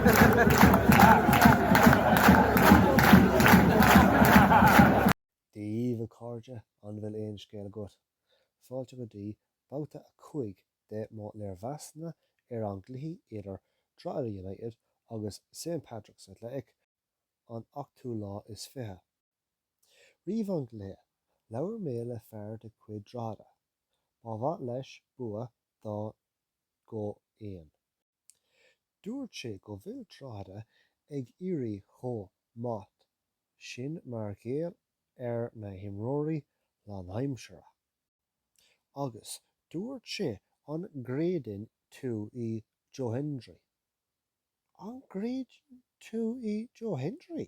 Dia dhaoibh a chairde, an bhfuil aon scéal agat? Fáilte go dtí babhta a cúig de mo léirmheasanna ar an gcluiche idir Drogheda United agus St Patrick's Athletic an ochtú lá is fiche. Roimh an gcluiche, labhair mé le fear de chuid Drogheda. Ba mhaith leis bua dó go haon. Dúirt sé go bhfuil Drogheda ag éirí chomh maith sin mar gheall ar na himreoirí lánaimseartha agus dúirt sé an gcreideann tú i Joe Hendry? An gcreideann tú i Joe Hendry?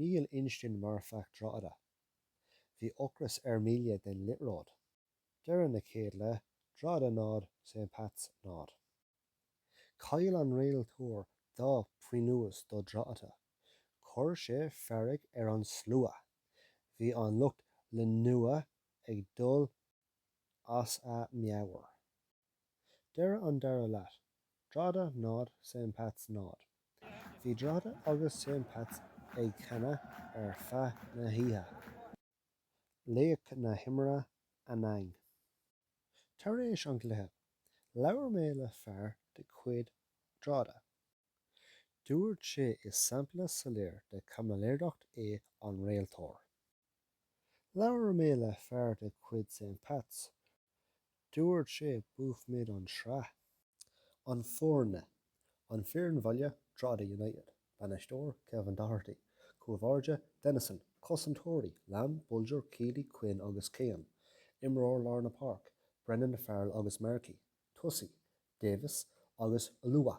Níl instinn marfach Drogheda. Bhí ocras ar Melia don liathróid. Deireadh na chéad leath, Drogheda 0, St Pats 0. Chaill an réiteoir dhá phionós do Drogheda. Chuir sé fearg ar an slua. Bhí an lucht leanúna ag dul as a meabhair. Deireadh an dara leath, Drogheda 0, St Pats 0. Bhí Drogheda agus St Pats ag canadh ar feadh na hoíche. Laoch na himeartha Anang. Tar éis an gcluiche, labhair mé le fear de chuid Drogheda. Dúirt sé is sampla soiléir de chaimiléireacht é an réiteoir. Labhair mé le fear de chuid St Pats. Dúirt sé buafaimid an sraith. An foirne, An fhoireann bhaile, Drogheda United, Bainisteoir, Kevin Doherty, Cúl báire, Dennison, Cosantóirí, Lambe, Bolger, Keeley, Quinn agus Kane, Imreoir lár na páirc, Brennan, Farrell agus Markey, Tosaí, Davis agus Oluwa.